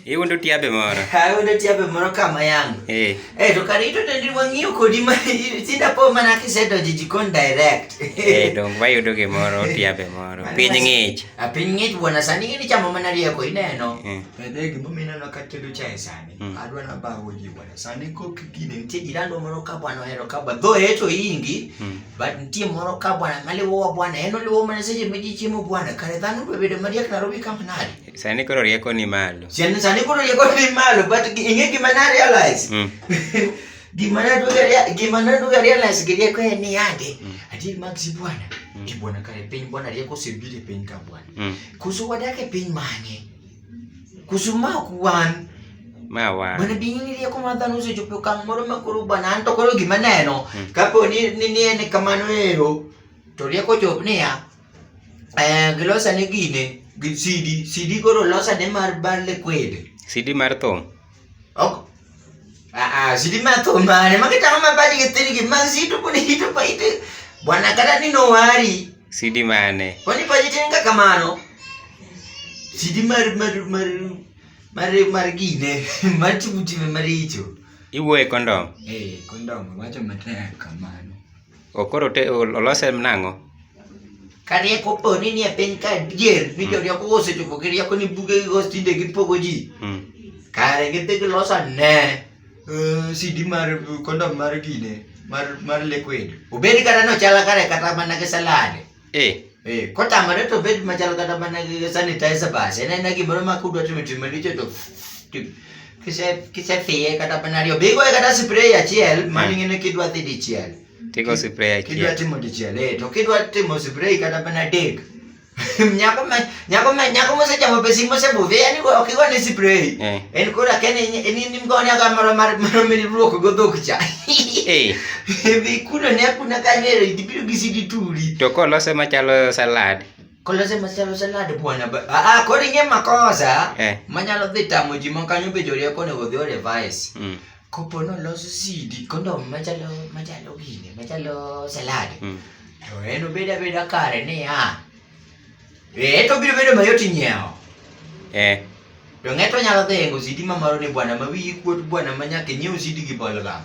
Hiyo ndio tiabe moro. Hiyo ndio tiabe moro kama yangu. Eh. Eh, to karito tendi wang'iyo kodi ma tinda po mana kisedo jijikon direct. Eh, dong ba yudo ge moro tiabe moro. Piny ng'ich. A piny ng'ich bwana sani ngini chamo mana rieko ineno. Eh. Pedegi mumina no katedo chai sani. Hmm. Adwa na ba hoji Sani kok gini nitie jirani moro ka bwana ohero ka bwana dho eto ingi hmm. but nitie moro ka bwana maliwo wa bwana en oliwo mana seche ma ji chiemo bwana kare dhano be bedo mariek Nairobi kama nade sani koro rieko ni malo sani sani koro rieko ni malo but ing'e gima na realize hmm. gima na duga gima na duga realize gi rieko en ni yande hmm. adier mag si bwana e bwana kare piny bwana rieko osebiro e piny ka bwana koso wadak e piny mane Kusuma kuwan. Mawa. Mana dingin dia kumatan usi jupi kang moro makuru banan to koro gimana ya no. Hmm. Kapo ni ni ni ni kamano ero. To dia ko jop ni ya. Eh gilosa ni gine. Sidi, sidi koro losa ne mar balle kwede. Sidi mar thum. ok ah ah zili mato mane makita kama badi ketiriki mazitu kuni hitu pa ite bwana kata ni no wari sidi mane kuni pa jitenga kamano sidi mar mar mar mar mar gine mati mutime maricho iwo e kondom eh kondom wacho mataya kamano O koro te ol- olose nang'o? Ka rieko po ni nie piny ka dier ni jorieko osechopo gi rieko ni buge gi gos tinde gipogo ji. Mm. Kare gidhi giloso ane eh, CD mar kondom mar gine mar mar liquid. Obed kata nochala kare kata mana gi salad. Eh. Eh, kotamore to bed machal kata mana gi sanitizer basi. En en gimoro ma kudwa timo timo maricho to to- kise kise fiye kata mana ariyo. Bigo kata spray achiel mano Eh. ing'e kidwa dhi dichiel. Tigo spray Kidwa achiel. timo dichiel eh to kidwa timo spray kata mana adek. Nyako ma nyako me nyako mose chamo pesi mose budhi yani ko kigo ni spray Eh. en kora ken ni ni mgo ni aga maro mar maro mi luoko go dhok cha Eh, bi kuno ne kuna ka ne ri biro gi sidi turi to kolose machalo salad. kolose masalo salad bwana ba- ah ah, kori nge makosa Eh. manyalo dhi tamo ji ma kanyo be jori ko ne odhi o revise Mm. kopo no loso sidi kondo machalo machalo gine machalo salad Mm. to en obeda beda kare ni ah Eh, to biro bedo mayot nyiewo. Eh. To ng'eto nyalo dhi yengo sidi ma maro ni bwana ma wiyi kuot bwana ma nyaka nyiew sidi gi bol gam.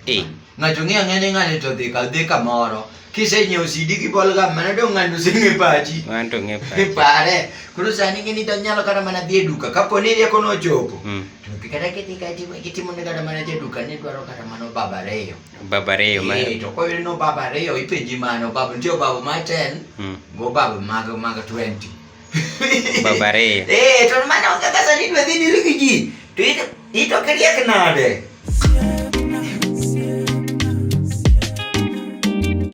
Eh. Ng'ato ng'eyo ng'e ni ng'ani to dhi ka dhi kamoro. Kise nyiew sidi gi bol gam mana dong' ng'ani oseng'e pachi. Ng'ani to ng'e pachi. Pare. Koro sani ng'e ni to nyalo kata mana dhi e duka kapo ni rieko nochopo. Mm. To kata kidhi kata kitimo ne kata mana jaduka ni dwaro kata mana obaba ariyo. Baba ariyo ma. Eh, to koyudo no baba ariyo ipenji mano baba nitie baba ma 10 mm. go baba mag mag 20. baba ariyo. Eh, to mano kaka sani dwe dhi diri gi ji. To ito ito kiriek nade?